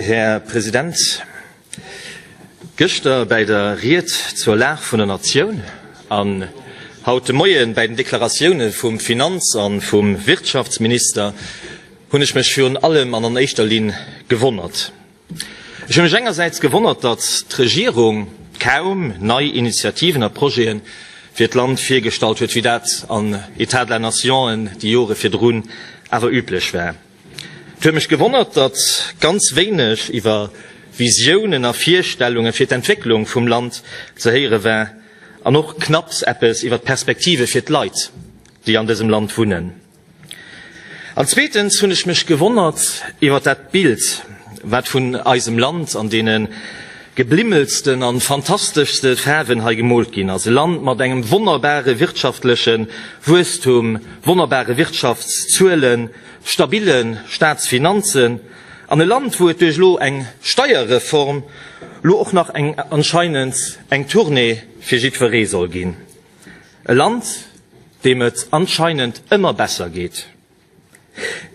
Här President, gëschter bäi der Ried zur Lag vun der Natioun an haut de Moie bäi den Deklaratioune vum Finanz a vum Wirtschaftsminister hunn ech mech virun allem an an éischter Linn gewonnert. Ech hunn mech engersäits gewonnert, datt d'Regierung kaum nei Initiativen a Projete fir d'Land virgestallt huet, wéi dat an État de la Nation en déi Jore virdrun awer üblech war. Et huet mech gewonnert, datt ganz wéineg iwwer Visiounen a Virstellunge fir d'Entwécklung vum Land ze héiere war an och knapps eppes iwwer d'Perspektive fir d'Leit, déi an dësem Land wunnen. An zweetens hunn ech mech gewonnert iwwer dat Bild, wat vun eisem Land an deene geblimmelsten a fantasteschste Faarwen hei gemoolt ginn ass, e Land mat engem wonnerbare wirtschaftleche Wuesstum, wonnerbare Wirtschaftszuelen, stabille Staatsfinanzen an e Land, wou et duerch elo eng Steierreform elo och nach eng, anscheinend, eng Tournée fir jiddweree soll ginn, e Land, deem et anscheinend ëmmer besser geet.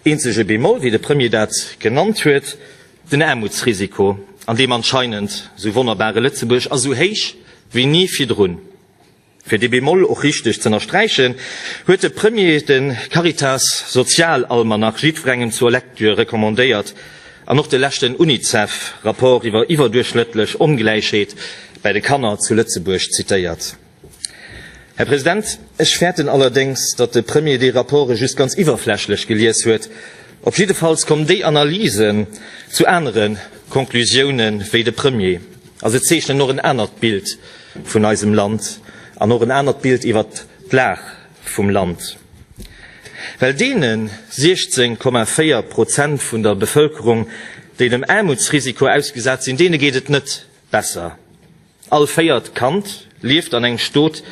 Eenzege Bemol, wéi de Premier dat genannt huet, den Aarmutsrisiko, an deem anscheinend esou wonnerbare Lëtzebuerg ass esou héich wéi ni virdrun. Fir dee Bemol och richteg z'ënnersträichen, huet de Premier de Caritas Sozialalmanach jiddwerengem zur Lektür recommandéiert an och de leschten UNICEF-Rapport iwwer iwwerduerchschnëttlech Ongläichheet bäi de Kanner zu Lëtzebuerg zitéiert. Här President, ech fäerten allerdéngs, datt de Premier déi Rapporte just ganz iwwerflächlech gelies huet. Op jiddefalls kommen déi Analysen zu anere Conclusiounen wéi de Premier. A se zeechnen och en anert Bild vun eisem Land an och en anert Bild iwwert d'Lag vum Land. Well deenen 16,4 Prozent vun der Bevëlkerung, déi dem Aarmutsrisiko ausgesat sinn, deene geet et net besser. All véiert Kand lieft an engem Stot,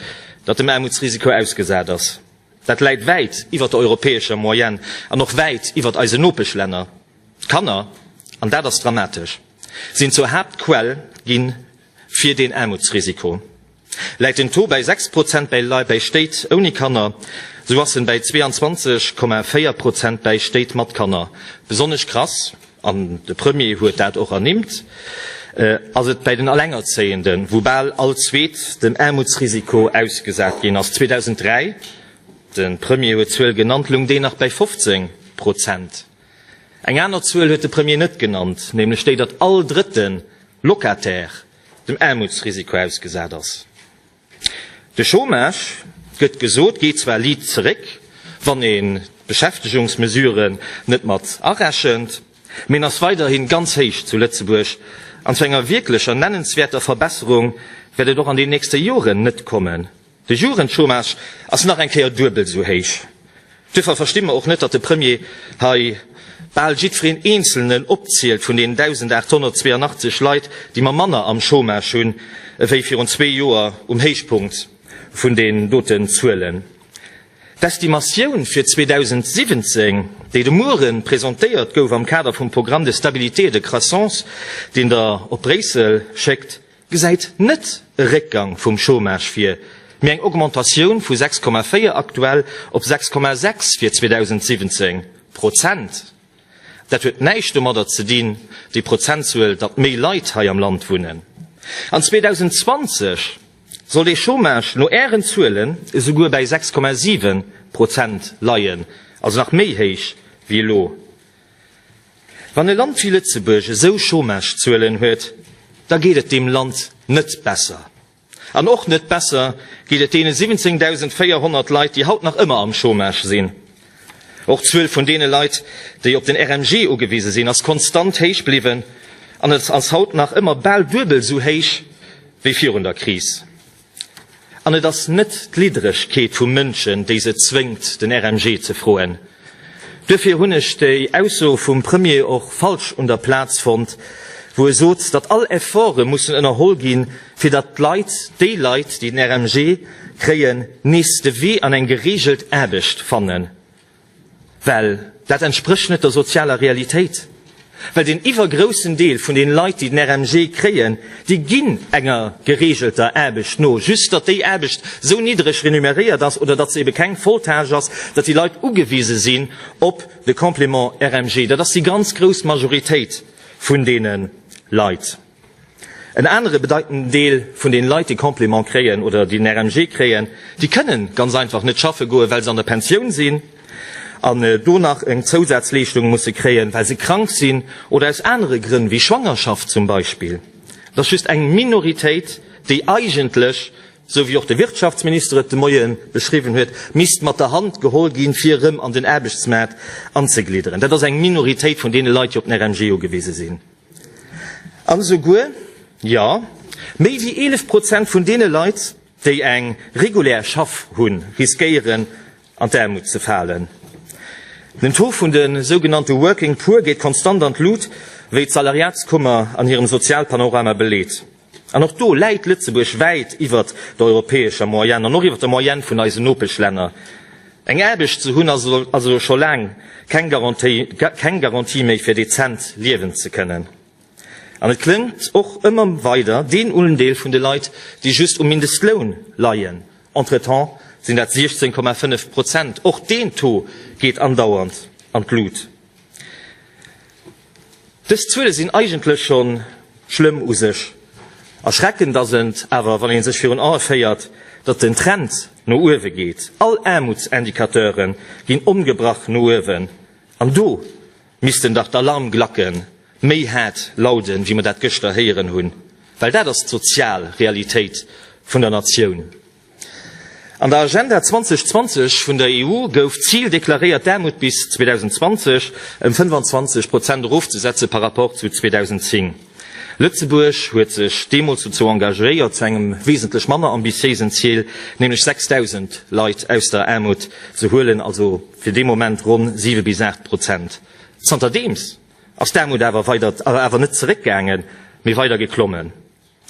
dat dem Aarmutsrisiko ausgesat ass. Dat läit wäit iwwert der europäescher Moyenne an och wäit iwwert eisen Nopeschlänner. D'Kanner, an dat ass dramatesch! Sinn zur Haaptquell gi fir den Aarmutsrisiko. Läit den Taux bäi 6 Prozent bäi Stéit ouni Kanner, sou ass en bäi 22,4 Prozent bäi Stéit mat Kanner. Besonnesch krass, an de Premier huet dat och ernimmt, ass et bäi den Alengerzéienden, wou bal all Zweet dem Aarmutsrisiko ausgesat ginn ass. 2003, de Premier huet d'Zuel genannt, lung deen nach bäi 15 Prozent. Eng aner Zuel huet de Premier net genannt, nämlech déi, datt all drëtte Locataire dem Aarmutsrisiko ausgesat ass. De Chômage, gëtt gesot, geet zwar liit zeréck, wann een d'Beschäftegungsmesuren net mat arechent, mee en ass weiderhi ganz héich zu Lëtzebuerg an zu enger wierklecher nennenswäerter Verbesserung wäert et och an den nächste Joren net kommen. De Jugendchômage ass nach eng Kéier duebel esou héich. Duerfir versti mer och net, datt de Premier hei bal jiddwereen Eenzelnen opzielt vun deenen 1.882 Leit, déi mer manner am Chômage hunn ewéi virun zwee Joer um Héichpunkt vun deenen doten Zuelen. D'Estimatioun fir 2017, déi de Muere presentéiert gouf am Kader vum Programme de stabilité et de croissance, deen Der op Bréissel schéckt, gesäit net e Réckgang vum Chômage vir, mee eng Augmentatioun vu 6,4 aktuell op 6,6 fir 2017, Prozent. Dat huet näischt domadder ze dinn, déi Prozentzuel, datt méi Leit hei am Land wunnen. An 2020 soll de Chômage no Ären Zuelen esouguer bäi 6,7 Prozent leien, also nach méi héich wéi elo. Wann e Land wéi Lëtzebuerg esou Chômagezuelen huet, da geet et deem Land net besser. An och net besser geet et deene 17.400 Leit, déi haut nach ëmmer am Chômage sinn. Och d'Zuel vun deene Leit, déi op den RMG ugewise sinn, ass konstant héich bliwwen an ass haut nach ëmmer bal duebel esou héich wéi virun der Kris. An et ass net d'Lidderegkeet vu Mënschen, déi se zwéngt, den RMG ze froen. Duerfir hunn ech déi Ausso vum Premier och falsch un der Plaz fonnt, wou e sot, datt all Efforte mussen ënnerholl ginn, fir datt d'Leit, déi Leit, déi den RMG kréien, nees de Wee an eng gereegelt Aarbecht fannen. Well dat entsprécht net der sozialer Realitéit. Well den iwwergroussen Deel vun den Leit, déi den RMG kréien, déi ginn enger gereegelter Aarbecht no. Just datt déi Aarbecht sou niddreg renumeréiert ass oder datt se ebe keng Volltâche ass, datt déi Leit ugewise sinn op de Complément RMG. Dat ass déi ganz grouss Majoritéit vun deene Leit. En anere bedeitenden Deel vun den Leit, déi Complément kréien oder déi den RMG kréien, déi kënnen ganz einfach net schaffe goen, well se an der Pensioun sinn an do nach eng Zousazleeschtung musse kréien, well se krank sinn oder aus anere Grënn, wéi Schwangerschaft zum Beispill. Et ass just eng Minoritéit, déi eigentlech, esou wéi och de Wirtschaftsminister et de Moie beschriwwen huet, misst mat der Hand geholl ginn, fir erëm an den Aarbechtsmaart anzeglidderen. Dat ass eng Minoritéit vun deene Leit, déi op den RMG ugewise sinn. An esouguer, jo, méi wéi 11 Prozent vun deene Leit, déi eng regulär Schaff hunn, riskéieren an d'Aarmut ze falen. Den Taux vun de sougenannte Working Poor geet konstant an d'Lut, wéi d'Salariatskummer an hirem Sozialpanorama beleet. An och do läit Lëtzebuerg wäit iwwert der europäescher Moyenne an och iwwert der Moyenne vun eisen Nopeschlänner. Eng Aarbecht ze hunn ass also scho laang keng Garantie méi fir dezent liewen ze kënnen. An et klëmmt och ëmmer weider deen Undeel vun de Leit, déi just um Mindestloun leien, entretemps sinn dat 16,5 Prozent. Och deen Taux geet andauernd an d'Lut. Dës Zuele sinn eigentlech scho schlëmm u sech. Erschreckend ass et awer, wann ee sech virun Ae féiert, datt den Trend no uewe geet. All Aarmutsindikateure ginn ongebrach no uewen. An do missten dach d'Alarmglacke méi haart lauden, wéi mer dat gëschter héieren hunn, well dat ass d'sozial Realitéit vun der Natioun. An der Agenda 2020 vun der EU gouf d'Zil deklaréiert, d'Aarmut bis 2020 ëm 25 Prozent erofzesetze par rapport zu 2010. Lëtzebuerg huet sech deemools dozou engagéiert, zu engem wesentlech manner ambitiéisen Zil, nämlech 6.000 Leit aus der Aarmut ze huelen, also fir dee Moment ronn 7 bis 8 Prozent. Zanterdeems ass d'Aarmut awer weider, awer net zeréckgaangen, mee weider geklommen.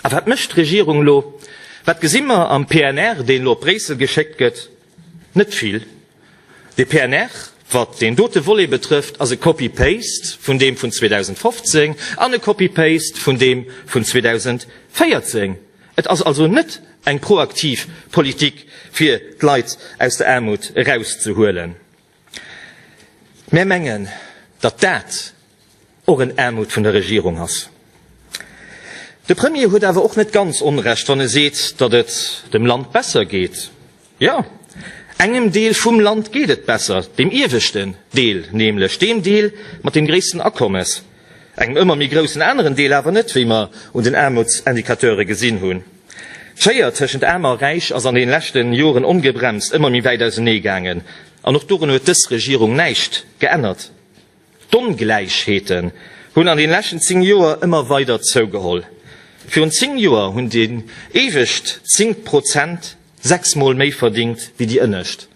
A wat mécht d'Regierung elo? Wat gesi mer am PNR, deen elo op Bréissel geschéckt gëtt? Net vill. De PNR, wat deen dote Volet betrëfft, ass e Copy-paste vun deem vun 2015 an e Copy-paste vun deem vun 2014. Et ass also net eng proaktiv Politik, fir d'Leit aus der Aarmut erauszehuelen. Mär mengen, datt dat och en Armut vun der Regierung ass. De Premier huet awer och net ganz Onrecht, wann e seet, datt et dem Land besser geet. Jo, engem Deel vum Land geet et besser, dem ieweschten Deel nämlech, deem Deel mat deem gréissten Akommes, engem ëmmer méi groussen aneren Deel awer net, wéi mer un den Aarmutsindicateure gesinn hunn. D'Schéier tëschent Aarm a Räich ass an den leschten Joren ongebremst ëmmer méi wäit ausenee gaangen, an och dorun huet dës Regierung näischt geännert. D'Ongläichheeten hunn an den leschten 10 Joer ëmmer weider zougeholl. Virun 10 Joer hunn déi éiwescht 10 Prozent 6 mol méi verdingt wéi déi ënnescht.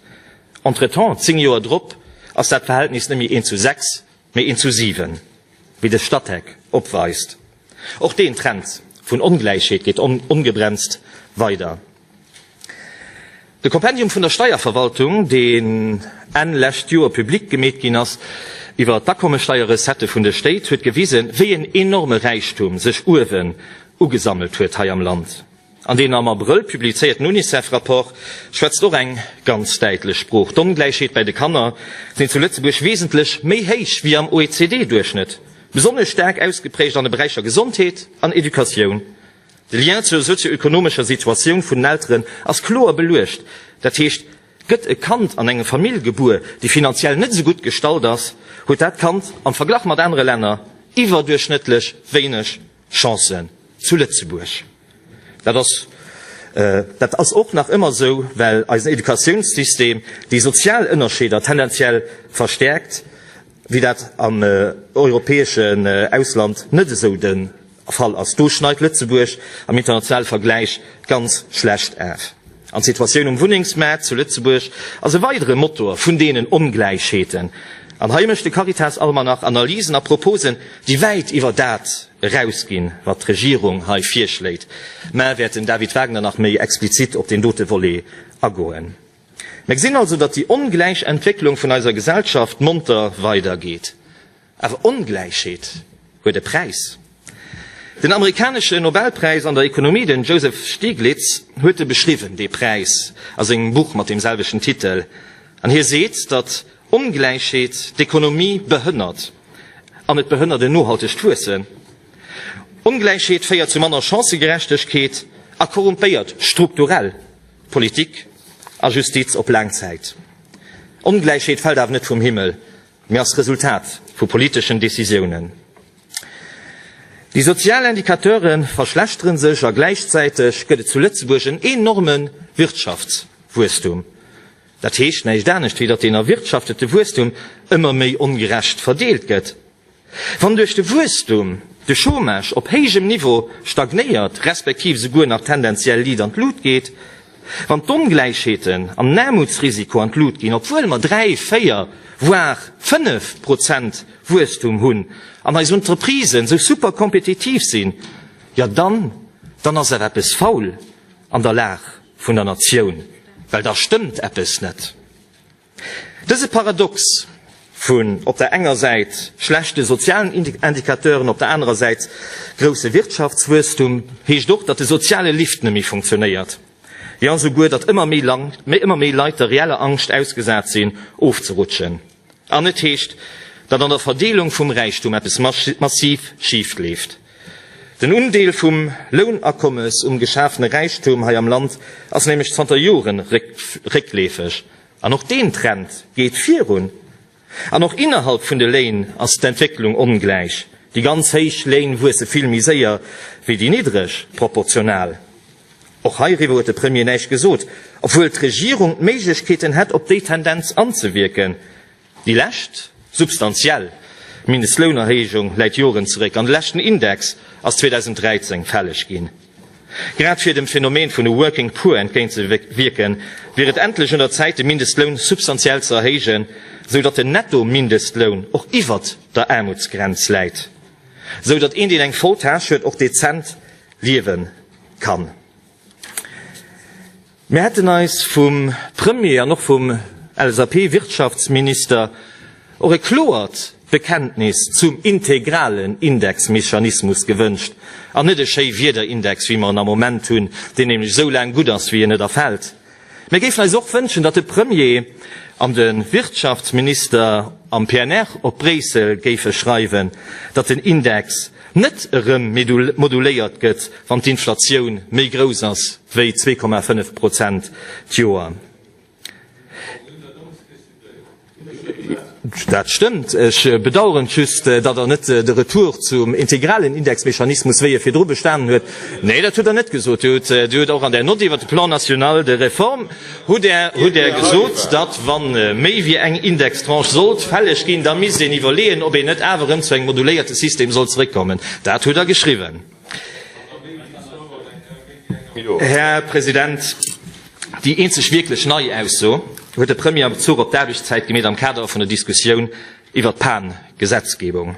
Entretemps, 10 Joer drop, ass dat Verhältnis net méi 1 zu 6, Méi inklusive wéi de Statec opweist. Och deen Trend vun Ongläichheet geet ongebremst weider. De Kompendium vun der Steierverwaltung, deen Enn lescht Joer public gemeet ginn ass, iwwer d'Akommesteierrecettë vun de Stéit, huet gewisen, wéi en enorme Räichtum sech uewen ugesammelt huet hei am Land. An deen am Abrëll publizéierten UNICEF-Rapport schwätzt och eng ganz däitlech Sprooch, D'Ongläichheet bäi de Kanner sinn zu Lëtzebuerg wesentlech méi héich ewéi am OECD-Duerchschnëtt, besonnesch staark ausgeprägt an de Beräicher Gesondheet an Educatioun. De Lien zur sozio-ökonomescher Situatioun vun den Elteren ass kloer beluecht, dat heescht, gëtt e Kand an eng Famill gebuer, déi finanziell net esou gutt gestallt ass, huet dat Kand am Verglach mat anere Länner iwwerduerchschnëttlech wéineg Chancen zu Lëtzebuerg. Dat ass, dat ass och nach ëmmer esou, well eisen Educatiounssystem déi sozial Ënnerscheeder tendenziell verstärkt, wéi dat am europäeschen Ausland net esou de Fall ass. Do schneit Lëtzebuerg am internationale Vergläich ganz schlecht af. An d'Situatioun um Wunnengsmaart zu Lëtzebuerg ass e weidere Motor vun deenen Ongläichheeten. An hei mécht de Caritas-Almanach Analysen a Proposen, déi wäit iwwer dat erausginn, wat d'Regierung hei virschléit. Maer wäert den David Wagner nach méi explizit op deen dote Volet agoen. Mer gesinn also, datt déi ongläich Entwécklung vun eiser Gesellschaft monter weidergeet. Awer Ongläichheet huet e Präis. Den amerikanesche Nobelpräis an der Ekonomie, den Joseph Stiglitz, huet e beschriwwen, dee Präis, a sengem Buch mat deem selwechten Titel. An hie seet, datt Ongläichheet d'Ekonomie behënnert. An et behënnert en nohaltegt Wuessen. Ongläichheet féiert zu manner Chancëgerechtegkeet a korrumpéiert strukturell Politik a Justiz op laang Zäit. Ongläichheet fält awer net vum Himmel, mee als Resultat vu politeschen Decisiounen. Déi sozial Indicateure verschlechtere sech a gläichzäiteg gëtt et zu Lëtzebuerg en enorme Wirtschaftswuesstum. Dat heescht näischt anescht, wéi datt deen erwirtschaftete Wuesstum ëmmer méi ongerecht verdeelt gëtt. Wann duerch de Wuesstum de Chômage op héijem Niveau stagnéiert, respektiv esouguer nach tendenziell liit an d'Lut geet, Wann d'Ongläichheeten an d'Aarmutsrisiko an d'Lut ginn, obwuel mer dräi, véier, voire fënnef Prozent Wuesstum hunn an eis Entreprisen esou super kompetitiv sinn, jo dann, dann ass awer eppes faul an der Lag vun der Natioun, well da stëmmt eppes net. Dëse Paradox vun op der enger Säit schlechte sozialen Indicateuren, op der anerer Säit grousse Wirtschaftswuesstum heescht och, datt de soziale Lift net méi funktionéiert, jo esouguer, datt ëmmer méi Leit der reeller Angscht ausgesat sinn, ofzerutschen. An et heescht, datt an der Verdeelung vum Räichtum eppes massiv schifleeft. Den Undeel vum Lounakommes um geschafene Räichtum hei am Land ass nämlech zanter Jore réckleefeg. An och deen Trend geet virun. An och innerhalb vun de Léin ass d'Entwécklung ongläich, déi ganz héich Léin wuesse vill méi séier wéi déi niddreg, proportional. Och heiriwwer huet de Premier näischt gesot, obwuel d'Regierung d'Méiglechkeeten hätt op déi Tendenz anzewierken. Déi lescht substantiell Mindestlounerhéijung läit Joren zeréck an de leschten Index ass 2013 fälleg ginn. Grad fir dem Phänomen vun e working poor entgéint ze wierken, wier et endlech un der Zäit de Mindestloun substantiell ze erhéijen, sou datt den Netto-Mindestloun och iwwert der Aarmutsgrenz läit, sou datt een deen eng voll Tâche huet och dezent liewe kann. Mir hätten eis vum Premier an och vum LSAP-Wirtschaftsminister och e kloert Bekenntnis zum integralen Indexmechanismus gewënscht an net e Schéiwieder-Index, wéi mer en am Moment hunn, deen nämlech esou laang gutt ass, wéi en net erfält. Mir géifen eis och wënschen, datt de Premier an de Wirtschaftsminister am PNR op Bréissel géife schreiwen, datt den Index, net erëm moduléiert gëtt, wann d'Inflatioun méi grouss ass wéi 2,5 Prozent d'Joer. Dat stëmmt. Ech bedauern just, datt Der net de Retour zum integralen Indexmechanismus, wéi e virdru bestanen huet, Nee, dat huet Der net gesot. Dir hutt och an där Nott iwwert de Plan national de réforme, Hutt Der gesot, datt, wa méi wéi eng Indextranche sollt fälleg ginn, da misst een iwwerleeën, ob een net awer erëm zu engem moduléierte System soll zeréckkommen? Dat hutt Der geschriwwen, Här President. Déi eenzeg wierklech nei Ausso huet de Premier a Bezuch op d'Aarbechtszäit gemeet am Kader vun der Diskussioun iwwert d'Pan-Gesetzgebung.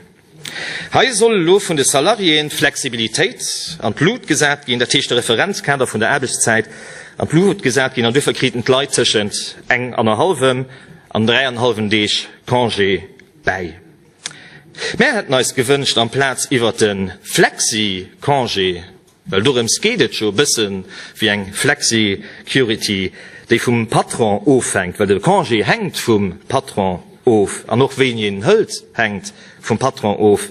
Hei soll elo vun de Salariéeën d'Flexibilitéit an d'Lut gesat ginn, dat heescht de Referenzkader vun der Aarbechtszäit an d'Lut gesat ginn an duerfir kriten d'Leit tëschent eng an der hallwem an dräi an hallwen Deeg Congé bäi. Mär hätten eis gewënscht amplaz iwwert de Flexicongé, Well dorëms geet et jo, e bësse wéi eng Flexicurity, déi vum Patron ofhänkt, well de Congé hänkt vum Patron of an och wéini een en hëlt, hänkt vum Patron of,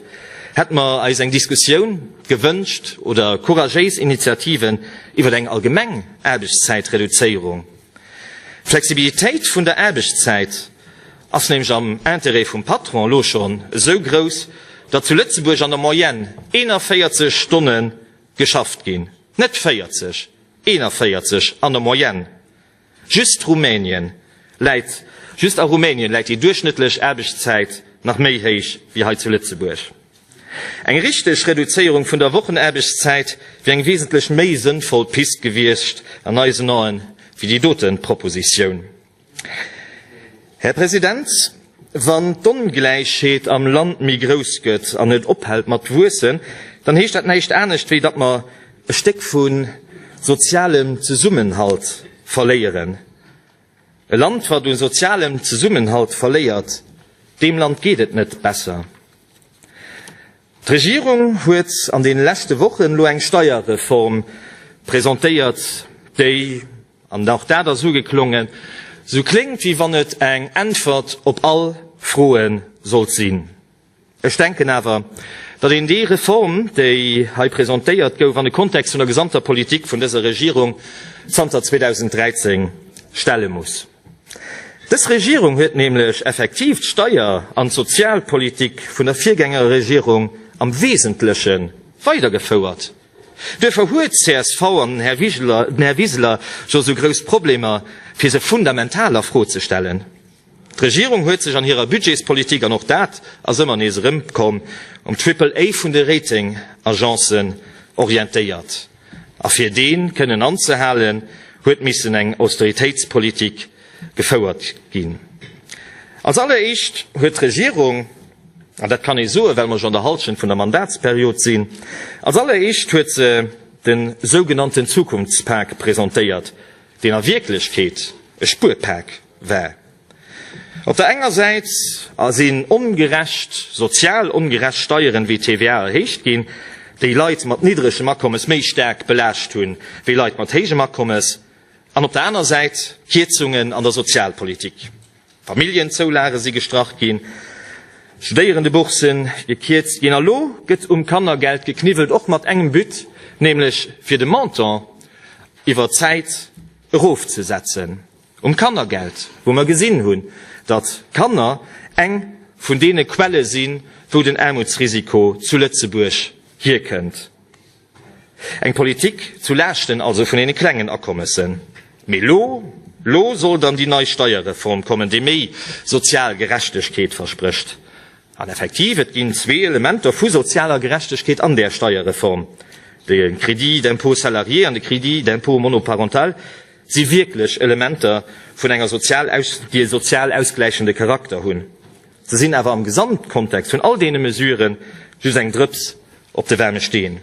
hätte mer eis eng Diskussioun gewënscht oder couragéis Initiativen iwwer eng allgemeng Aarbechtszäitreduzéierung, Flexibilitéit vun der Aarbechtszäit. ass nämlech am Intérêt vum Patron elo schonn esou grouss, datt zu Lëtzebuerg an der Moyenne 41 Stonne geschafft ginn, net 40, 41 an der Moyenne. Just Rumänien läit, just a Rumänien läit déi duerchschnëttlech Aarbechtszäit nach méi héich wéi hei zu Lëtzebuerg. Eng richteg Reduzéierung vun der Wochenaarbechtszäit wier eng wesentlech méi sënnvoll Pist gewiescht an eisen Aen wéi déi dote Propositioun. Här President, wann d'Ongläichheet am Land méi grouss gëtt an net ophält mat wuessen, dann heescht dat näischt anescht, wéi datt mer e Stéck vu sozialem Zesummenhalt verléieren. E Land, wat u sozialem Zesummenhalt verléiert, deem Land geet et net besser. D'Regierung huet an deene leschte Wochen elo eng Steierreform presentéiert, déi, An och dat ass ugeklongen, sou kléngt wéi wann et eng Äntwert op all Froe sollt sinn. Ech denken awer, datt een déi Reform, déi hei presentéiert gouf, an de Kontext vun der gesamter Politik vun dëser Regierung zanter 2013 stelle muss. Dës Regierung huet nämlech effektiv d'Steier an d'Sozialpolitik vun der Virgängerregierung am Wesentleche weidergefouert. Duerfir huet csv an den Här Wiseler, den Här Wiseler jo esou grouss Problemer, fir se fundamental a Fro ze stellen. D'Regierung huet sech an hirer Budgetspolitik, an och dat ass ëmmer nees erëmkomm, um Triple A vun de Ratingagencen orientéiert. A fir dee kënnen anzehalen, huet missen eng Austeritéitspolitik gefouert ginn. Als alleréischt huet d'Regierung An dat kann ee soen, well mer jo an der Hallschent vun der Mandatsperiod sinn. Als alleréischt huet se de sougenannten Zukunftspak presentéiert, deen a Wierklechkeet e Spuerpak war. Op der enger Säit sinn ongerecht, sozial ongerecht Steieren wéi d'TVA erhéicht ginn, déi Leit mat niddregem Akommes méi staark belaascht hunn, wéi Leit mat héijem Akommes. An op der aner Säit Kierzungen an der Sozialpolitik. Familljenzoulage si gestrach ginn, Studéierendebourssen gekierzt ginn a lo gëtt um Kannergeld gekniwwelt, och mat engem But, nämlech fir de Montant iwwer d'Zäit erofzesetzen. Um Kannergeld, wou mer gesinn hunn, datt Kanner eng vun deene Quelle sinn, wou den Aarmutsrisiko zu Lëtzebuerg hierkënnt. Eng Politik zu Laaschten also vun deene klengen Akommessen. Mee elo, elo soll dann déi nei Steierreform kommen, déi méi sozial Gerechtegkeet versprécht. An effektiv, et ginn zwee Elementer vu sozialer Gerechtegkeet an där Steierreform, de Crédit d'impôt salarié an de Crédit d'impôt monoparental si wierklech Elementer vun enger sozial aus, déi e sozial ausgläichende Charakter hunn. Se sinn awer am Gesamtkontext vun all deene Mesuren just eng Drëps op de waarme Steen.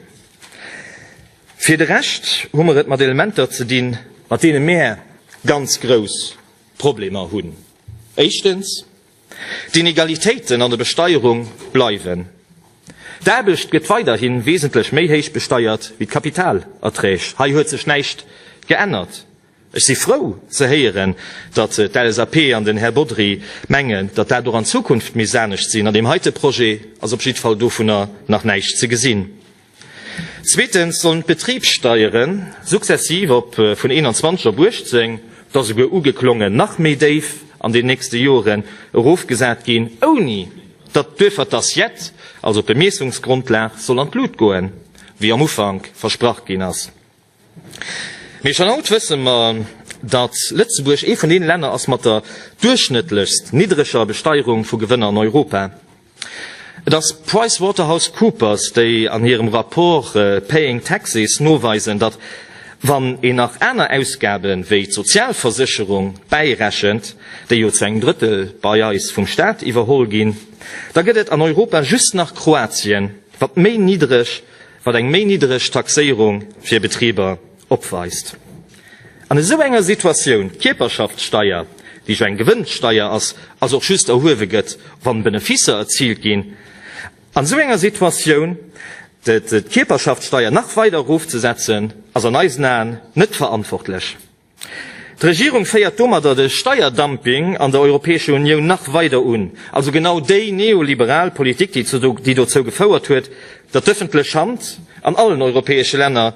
Fir de Rescht hu mer et mat Elementer ze dinn, mat deene mär ganz grouss Problemer hunn. Éischtens, d'Inegalitéiten an der Besteierung bleiwen. D'Aarbecht gëtt weiderhi wesentlech méi héich besteiert wéi d'Kapitalerträg. Hei huet sech näischt geännert. Ech si frou ze héieren, datt d'LSAP an den Här Bodry mengen, datt dat och an Zukunft misst anescht sinn. An deem heite Projet ass op jiddwer Fall dovunner nach näischt ze gesinn. Zweetens sollen d'Betribssteiere successiv op vun 21 op 18, et ass esouguer ugeklongen, nach méi déif an den nächste Joren erofgesat ginn, ouni datt duerfir d'Assiette, also d'Bemiessungsgrundlag, soll an d'Lut goen, wéi am Ufank versprach ginn ass. Mee schonn haut wësse mer, datt Lëtzebuerg ee vun deene Länner ass mat der duerchschnëttlechst niddreger Besteierung vu Gewënner an Europa. Et ass PricewaterhouseCoopers, déi an hirem Rapport Paying Taxes noweisen, datt wann een nach aner Ausgabe wéi d'Sozialversécherung bäirechent, déi jo zu engem Drëttel bei eis vum Staat iwwerholl ginn, da gëtt et an Europa just nach Kroatien, wat méi niddreg wat eng méi niddereg Taxéierung fir Betriber opweist. An esou enger Situatioun, d'Kierperschaftssteier, déi jo eng Gewënnsteier ass, ass och just erhuewe gëtt, wann Benefisser erziilt ginn, an esou enger Situatioun d'Kierperschaftssteier nach weider erofzesetzen, ass an eisen Aen net verantwortlech. D'Regierung féiert domadder de Steierdumping an der Europäescher Unioun nach weider un, also genau déi neoliberal Politik, déi dozou gefouert huet, datt d'ëffentlech Hand an allen europäesche Länner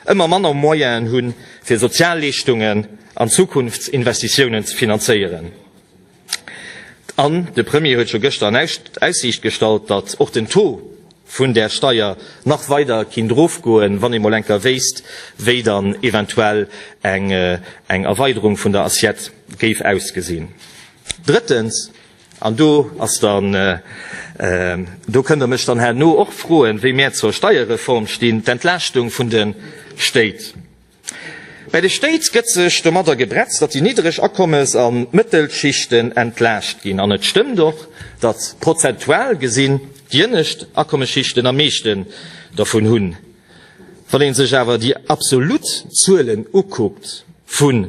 ëmmer manner Moyenen hunn, fir Sozialleeschtungen an Zukunftsinvestitiounen ze finanzéieren. An de Premier huet scho gëschter an Aussiicht gestallt, datt och den Taux vun där Steier nach weider kinnt erofgoen, wann ee mol enker wéisst, wéi dann eventuell eng Erweiderung vun der Assiette géif ausgesinn. Drëttens, an do ass dann, do kënnt Der mech dann herno och froen, wéi mär zur Steierreform stinn, d'Entlaaschtung vun de Stéit. Bei de Stéit gëtt sech domadder gebretzt, datt déi niddreg Akommes a Mëttelschichten entlaascht ginn. An et stëmmt och, datt prozentual gesinn d'ienescht Akommesschichten am meeschte dervun hunn. Wann ee sech awer déi absolut Zuelen ukuckt vun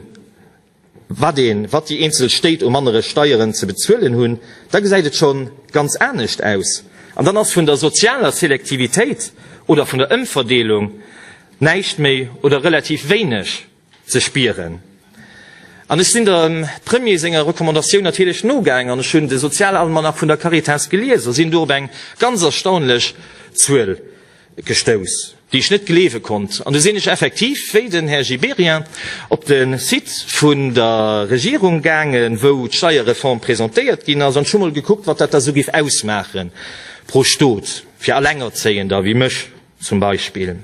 Wat een, wat déi eenzel Stéit um annere Steieren ze bezuelen hunn, da gesäit et schonn ganz anescht aus. An dann ass vun der sozialer Selektivitéit oder vun der Ëmverdeelung näischt méi oder relativ wéineg ze spieren. An ech sinn dem Premier senger Recommandatioun natierlech nogaang an ech hunn de Sozialalmanach vun der Caritas gelies a sinn do op eng ganz erstaunlech Zuel gestouss, déi ech net gleewe konnt, an du sinn ech effektiv, wéi den Här Gibéryen, op de Site vun der Regierung gaangen, wou d'Steierreform presentéiert ginn ass, an ech hu mol gekuckt, wat dat da sou géif ausmaachen pro Stot, fir Alengerzéiender wéi mech zum Beispill.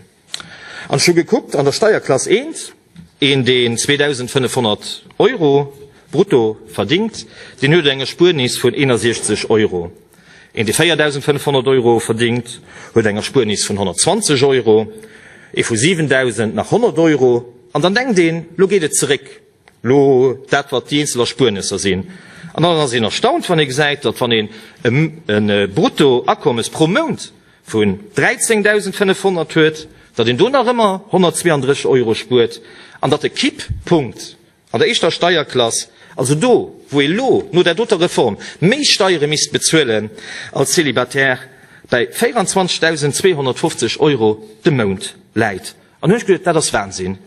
An ech hu gekuckt, an der Steierklass 1, een, deen 2.500 Euro brutto verdingt, deen huet eng Erspuernis vun 61 Euro. Een, dee 4.500 Euro verdéngt, huet eng Erspuernis vun 120 Euro, ee vu 7.000 nach 100 Euro. An dann denkt een, Lo geet et zeréck, lo dat, wat déi eenzel Erspuernesser sinn. An dann ass een erstaunt, wann ee gesäit, datt wann een e Bruttoakommes pro Mount vun 13.500 huet, datt een do nach ëmmer 132 Euro spuert an datt de Kipppunkt An der éischter Steierklass, also do, wou ee lo no der doter Reform méi Steiere misst bezuelen als Célibataire, bäi 24.250 Euro de Mount läit. An hu ech geduet, dat ass Wahnsinn,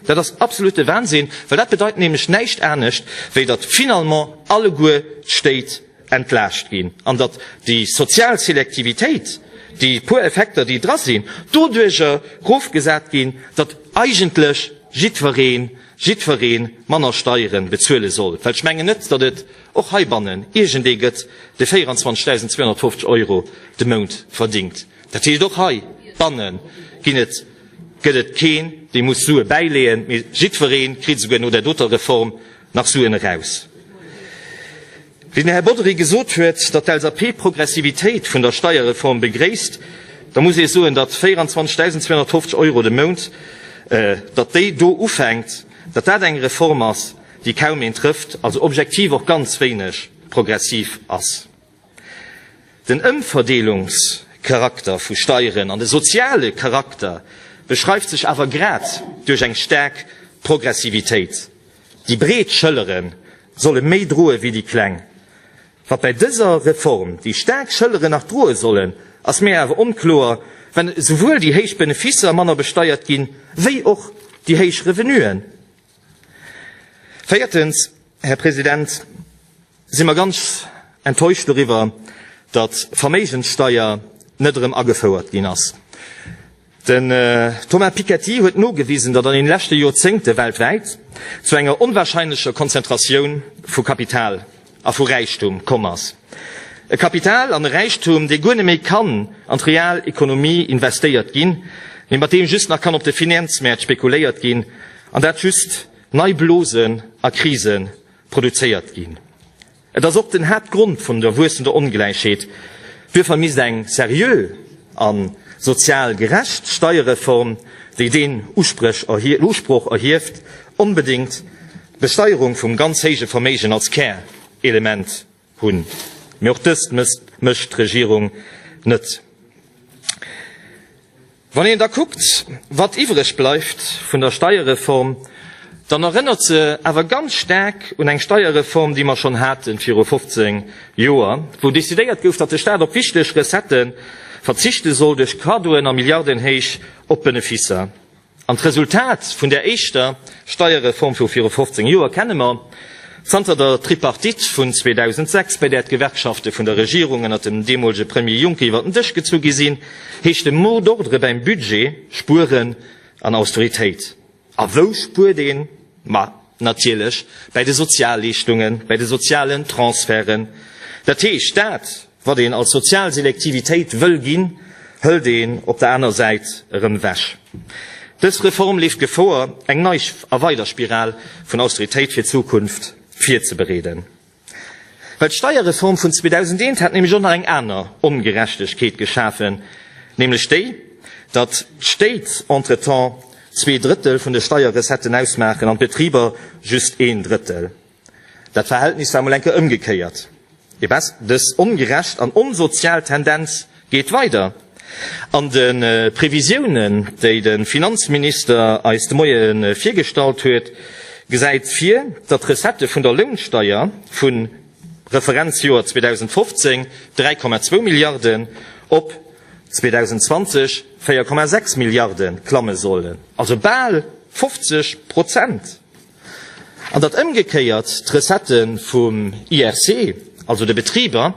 dat ass absolute Wahnsinn, well dat bedeit nämlech näischt anescht, wéi datt finalement alleguer d'Stéit entlaascht ginn an datt déi sozial Selektivitéit, déi puer Effekter, déi dra sinn, doduercher erofgesat ginn, datt eigentlech jiddweree jiddweree manner Steiere bezuele soll, well ech mengen net, datt et och heibannen iergendee gëtt, dee 24.250 Euro de Mount verdingt. Dat heescht, och heibanne gëtt et keen, dee muss Sue bäileeën, mee jiddweree kritt esouguer no där doter Reform nach Suen eraus. Wéi den Här Bodry gesot huet, datt d'LSAP d'Progressivitéit vun der Steierreform begréisst, da muss ee soen, datt 24.250 Euro de Mount, datt déi do ufänkt, datt dat eng Reform ass, déi kaum een trëfft, also objektiv och ganz wéineg progressiv ass. Den Ëmverdeelungscharakter vu Steieren an de soziale Charakter beschreift sech awer grad duerch eng staark Progressivitéit. Déi breet Schëllere solle méi droe wéi déi kleng. Wat bei dëser Reform déi staark Schëllere nach droe sollen, ass mir awer onkloer, well esouwuel déi héich Benefisser manner besteiert ginn, wéi och déi héich Revenuen. Véiertens, Här President, si mer ganz enttäuscht doriwwer, datt d'Verméigenssteuer net erëm agefouert ginn ass. Den Thomas Piketty huet nogewisen, datt an den leschte Joerzéngte weltwäit zu enger onwahrscheinlecher Konzentratioun vu Kapital a vu Räichtum komm ass. E Kapital an e Räichtum, dee guer net méi kann an d'real Ekonomie investéiert ginn, mee mat deem just nach kann op de Finanzmäert spekuléiert ginn an dat just nei Blosen a Krise produzéiert ginn. Et ass och den Haaptgrond vun der wuessender Ongläichheet. Duerfir misst eng seriö a sozial gerecht Steierreform, déi deen Usproch erhieft, onbedéngt d'Besteierung vum ganz héije Verméigen als Kärelement hunn. Mee och dëst mécht d'Regierung net. Wann een da kuckt, wat iwwreg bleift vun der Steierreform, dann erënnert se awer ganz staark un eng Steierreform, déi mer schonn haten viru 15 Joer, wou decidéiert gouf, datt de Staat op wichteg Recettë verzichte soll duerch Cadeauen a Milliardenhéich op Beneficer. An d'Resultat vun där éischter Steierreform vu viru 15 Joer kenne mer. Zanter der Tripartite vun 2006, bei där d'Gewerkschafte vun der Regierung ënnert dem deemolege Premier Juncker iwwer den Dësch gezu gi sinn, heescht de mot d'ordre bäim Budget Spueren an Austeritéit. A wou spuert een? Ma natierlech bei de Sozialleeschtungen, bei de sozialen Transferten, dat heescht dat, Wat een als sozial Selektivitéit wëll ginn, hëlt een op der aner Säit erëm ewech. Dës Reform leeft Gefor, eng nei a weider Spiral vun Austeritéit fir d'Zukunft virzebereeden. Well d'Steierreform vun 2001 hat nämlech och nach eng aner Ongerechtegkeet geschafen, nämlech déi, datt d'Stéit entretemps zwee Drëttel vun de Steierrecetten ausmaachen an d'Betriber just een Drëttel. Dat Verhältnis war mol eng Kéier ëmgekéiert. Et bes dës ongerecht an onsozial Tendenz geet weider. An de Previsiounen, déi de Finanzminister eis de Moie virgestallt huet, gesäit vir, datt d'Recettë vun der Lounsteier vu Referenzjoer 2015, 3,2 Milliarden, op 2020, 4,6 Milliarde klamme sollen. Also bal 50 Prozent! An datt ëmgekéiert d'Recettë vum IRC, also de Betriber,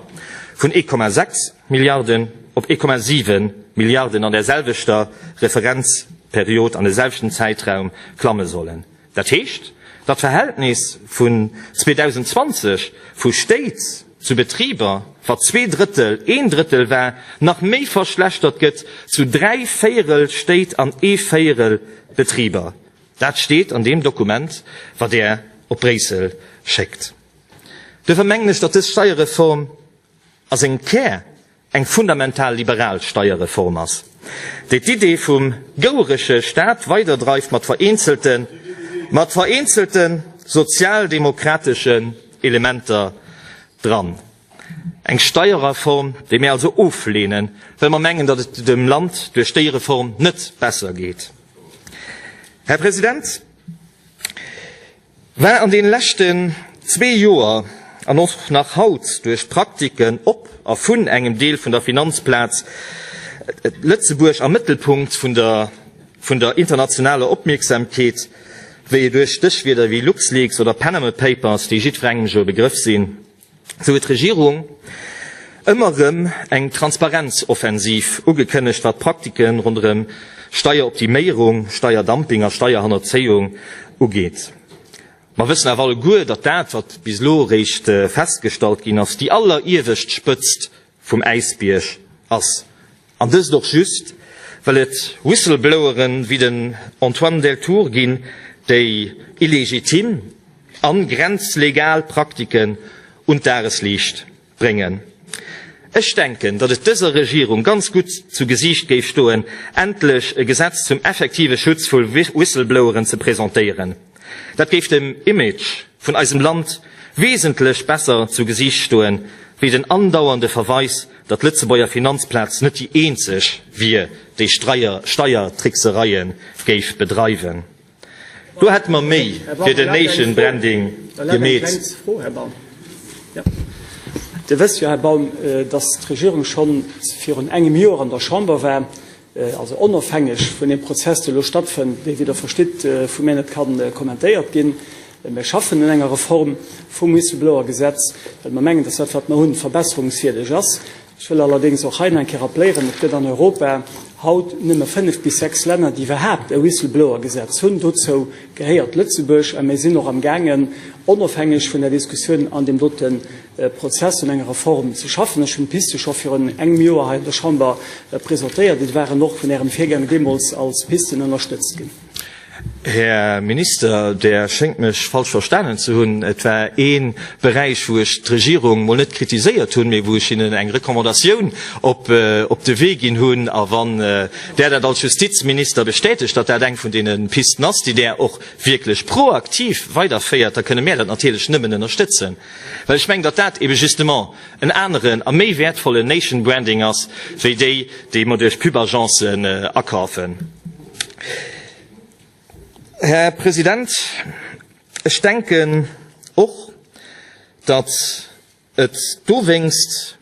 vun 1,6 Milliarden op 1,7 Milliarden an där selwechter Referenzperiod, an de selwechten Zäitraum klamme sollen. Dat heescht, datt d'Verhältnis vun 2020 vu Stéit zu Betriber, wat zwee Drëttel, een Drëttel war, nach méi verschlechtert gëtt zu dräi Véierel Stéit an ee Véierel Betriber. Dat steet an deem Dokument, wat Der op Bréissel schéckt. Duerfir mengen ech, datt dës Steierreform a sengem Kär eng fundamental liberal Steierreform ass, déi d'Idee vum gouereche Staat weiderdreift mat vereenzelten, mat vereenzelten sozialdemokrateschen Elementer dran. Eng Steierreform, déi mir also oflehnen, well mer mengen, datt et dem Land duerch déi Reform net besser geet. Här President, war an deene leschten zwee Joer an och nach haut duerch d'Praktiken op a vun engem Deel vun der Finanzplaz Lëtzebuerg am Mëttelpunkt vun der internationaler Opmierksamkeet, wéi et duerch Stéchwierder wéi LuxLeaks oder Panama Papers, déi jiddwerengem jo e Begrëff sinn, Sou huet d'Regierung ëmmer erëm eng Transparenzoffensiv ugekënnegt, wat d'Praktike ronderëm Steieroptiméierung, Steierdumping a Steierhannerzéiung ugeet. Mer wëssen awer alleguer, datt dat, wat bis elo eréischt festgestallt ginn ass, déi alleriewescht Spëtzt vum Äisbierg ass. An dëst och just, well et Whistleblower wéi den Antoine Deltour ginn, déi illegitim a grenzlegal Praktiken un d'Dagesliicht bréngen. Ech denken, datt et dëser Regierung ganz gutt zu Gesiicht géif stoen, endlech e Gesetz zum effektive Schutz vu Whistlebloweren ze presentéieren. Dat géif dem Image vun eisem Land wesentlech besser zu Gesiicht stoen, wéi den andauernde Verweis, datt d'Lëtzebuerger Finanzplaz net déi eenzeg wier, déi Steiertricksereie géif bedreiwen. Do hätte mer méi fir den Nation Branding gemeet. Dir wësst jo, Här Baum, datt d'Regierung schonn virun engem Joer an der Chamber war. also onofhängeg vun deem Prozess, dee elo stattfënnt, dee, wéi Der verstitt, vu mir net ka kommentéiert ginn. Mir schaffen un enger Reform vum Whistleblower-Gesetz, well mer mengen, datt dat, wat mer hunn, verbesserungswierdeg ass. Ech wëll allerdéngs och hei nach eng Kéier rappléieren, Et gëtt an Europa haut nëmme fënnf bis sechs Länner, déi iwwerhaapt e Whistleblower-Gesetz hunn. Dozou gehéiert Lëtzebuerg. A mir sinn och amgaangen, onofhängeg vun der Diskussioun an deem dote Prozess un enger Reform ze schaffen. Ech hunn d'Piste scho virun engem Joer hei an der Chamber presentéiert. Et waren och vun Ärem Virgänger deemools als Pisten ënnerstëtzt ginn. Här Minister, Der schéngt mech falsch verstanen ze hunn. Et war ee Beräich, wou ech d'Regierung mol net kritiséiert hunn, mee wou ech hinnen eng Recommandatioun op de Wee ginn hunn. A wann Der dat als Justizminister bestätegt, datt dat eng vun deene Pisten ass, déi Der och wierklech proaktiv weiderféiert, da kënne mär dat natierlech nëmmen ënnerstëtzen. Well ech mengen, datt dat ebe justement en aneren a méi wäertvollen Nation Branding ass, wéi déi, déi mer duerch Pub-Agencen akafen. Här President, ech denken och, datt et dowéinst,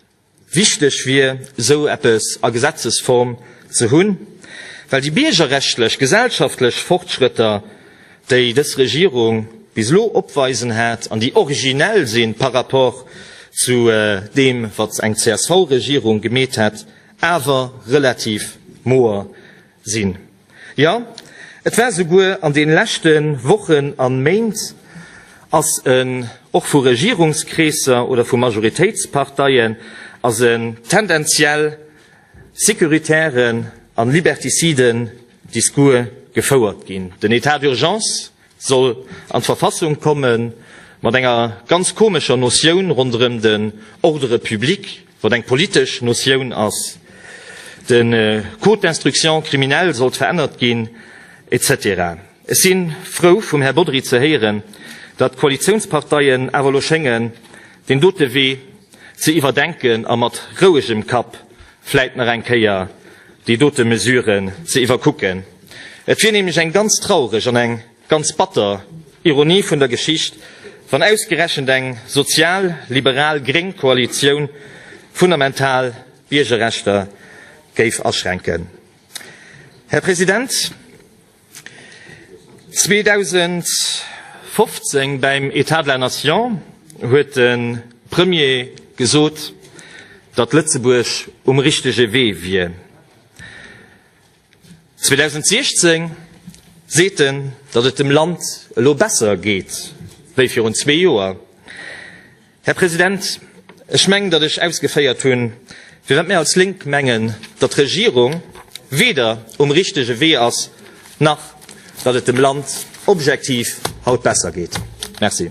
Wichteg wier, esou eppes a Gesetzesform ze hunn, well déi biergerrechtlech, gesellschaftlech Fortschrëtter, déi dës Regierung bis elo opweisen hat an déi originell si par rapport zu deem, wat eng CSV-Regierung gemeet hätt, awer relativ moer sinn. Jo, et war souguer an den leschte Wochen an Méint, ass en och vu Regierungskreesser oder vu Majoritéitsparteien als en tendenziell securitären an liberticiden Discours gefouert ginn. Den Etat d'urgence, soll an d'Verfassung kommen, mat enger ganz komescher Notioun ronderëm den Ordre public, wat eng politesch Notioun ass, de Code d'instruction criminelle sollt verännert ginn, etc. Ech si frou vum Här Bodry ze héieren, datt d'Koalitiounsparteien awer elo schéngen, deen dote Wee ze iwwerdenken a mat rouegem Kapp vläit nach eng Kéier déi dote Mesuren ze iwwerkucken. Et wier nämlech eng ganz traureg an eng ganz batter Ironie vun der Geschicht, wann ausgerechent eng sozial-liberal-gréng Koalitioun fundamental Biergerrechter géif aschränken. Här President, 2015 beim État de la Nation huet de Premier gesot, datt Lëtzebuerg um richtege Wee wier. 2016 seet en, datt et dem Land elo besser geet wéi virun zwee Joer. Här President, ech mengen, datt ech ausgeféiert hunn, firwat mir als Lénk mengen, datt d'Regierung weder um richtege Wee ass, nach datt et dem Land objektiv haut besser geet. Merci.